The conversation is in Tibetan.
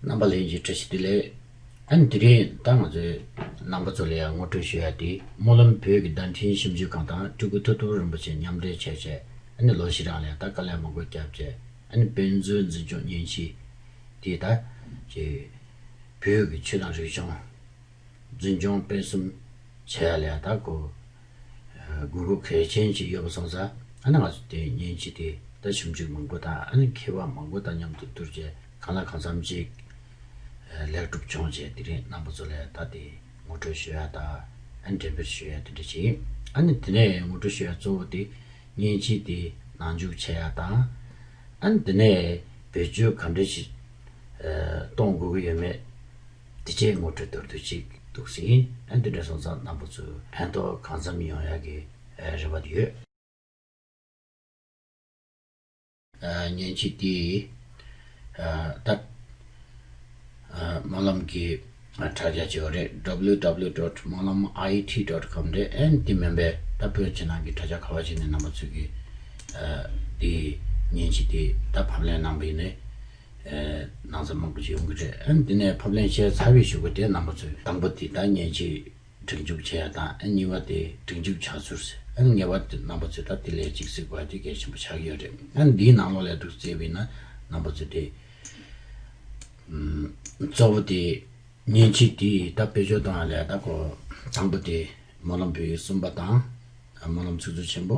རྣམ་པ་ལས་ཀྱི་བཀྲ་ཤིས་བདེ་ལེགས། ཨན་དེ་རིང་ད་ང་ཚོས་རྣམ་པ་ཚོ་ལ་ཡང་ངོ་སྤྲོད་ཞུ་ཡ་དེ་སྨོན་ལམ་བོད་ཀྱི་བརྡ་འཕྲིན་ཞིབ་འཇུག་ཁང་དང་སྤྲུལ་སྐུ་ཐུབ་ཐོབ་རིན་པོ་ཆེ་མཉམ་འབྲེལ་བྱས་བྱས་ཨན་ལོ་བཞི་རང་ལས་ད་དཀའ་ལས་མང་པོ་བརྒྱབ་བྱས་ཨན་དཔེ་མཛོད་འཛིན་སྐྱོང་གཉེན་གཤིས་དེ་ད་བྱས་བོད་ཀྱི་ཆོས་དང་རིག་གཞུང། འཛིན་སྐྱོང་སྤེལ་གསུམ་བྱས་ལ་ད་གོ། དགོས་མཁོ་གལ་ཆེན་ཅིག་ཡོད་པ་སོང་ས་ཨ་ན་ང་ཚོ་དེ་ཉིན་ཅིག་དེ་ད་ཞིབ་འཇུག་མང་པོ་དང་ཨ་ན་མཁས་པ་མང་པོ་དང་མཉམ་དུ་བསྡུར་རྗེས་གང་ལ་གང་འཚམ་ཅིག་ལེགས་གྲུབ་བྱུང་རྗེས་དེ་རིང་རྣམ་པ་ཚོ་ལས་ད་དེ་ངོ་སྤྲོད་ཞུ་ཡ་དང་འགྲེམས་སྤེལ་ཞུ་ཡ་དེ་འདྲ་བྱས་ཨ་ན་དེ་ནས་ངོ་སྤྲོད་ཞུ་ཡ་གཙོ་བོ་དེ་ཉིན་ཅིག་དེ་ནང་འཇུག་བྱས་ཡ་དང་ཨ་ན་དེ་ནས་བེད་སྤྱོད་ག་འདྲ་ཞིག་གཏོང་དགོས་ཀྱི་ཡོད་མེད། དེ་ཆེད་ངོ་སྤྲོད་གཏོར་དུས་ཅིག་འདུག་ཟིན་ཨན་དུ་འདྲ་སོང་ཙང་གནང་པོ་ཚོས་ཕན་ཐོག་གང་འཚམ་ཡོང་ཡག་གི་རེ་བ་ཡོད། ཉན་ཅིག་དེ་ལྟར་སྨོན་ལམ་གྱི་དྲ་རྒྱ་ཅིག་རེད ww dot སྨོན་ལམ IT dot com རེད་ཨན་དེ་མིན་པའི་ད་བོད་ཕྱི་ནང་གི་དྲ་རྒྱ་ག་བ་ཞིག་ནས་གནང་པ་ཚོས་གི་དེ་ཉན་ཅིག་དེ་ལྟར་ཕབ་ལེན་གནང་པའི་ནི། ནང་ཚན་མང་པོ་ཞིག་ཡོང་གི་རེད་ཨ། འདི་ནས་ཕབ་ལེན་བྱས་ཚར་བའི་ཞུ་སྒོ་དེ་རྣམ་པ་ཚོས་དང་པོ་དེ་ད་ཉན་ཆེད་སྒྲིག་འཇུག་བྱས་ཡ་དང་གཉིས་པ་དེ་སྒྲིག་འཇུག་བྱ་ཚུར་ཟེར་ངེས་པ་དེ་རྣམ་པ་ཚོས་ད་དེ་ལས་ཅིག་གཟིགས་པ་དེ་གལ་ཆེན་པོ་ཆགས་ཀྱི་ཡོད་རེད་ཨ། འདིའི་ནང་ལོག་ལས་སྒྲུག་རྩིས་པའི་ནང་རྣམ་པ་ཚོས་དེ། གཙོ་བོ་དེ་ཉན་ཆེད་དེ་ད་དཔེ་སྦྱོར་གཏོང་ཡ་ལས་ད་གོ། དང་པོ་དེ་སྨོན་ལམ་བོད་ཡིག་གསུམ་པ་དང། སྨོན་ལམ་ཚིག་མཛོད་ཆེན་པོ།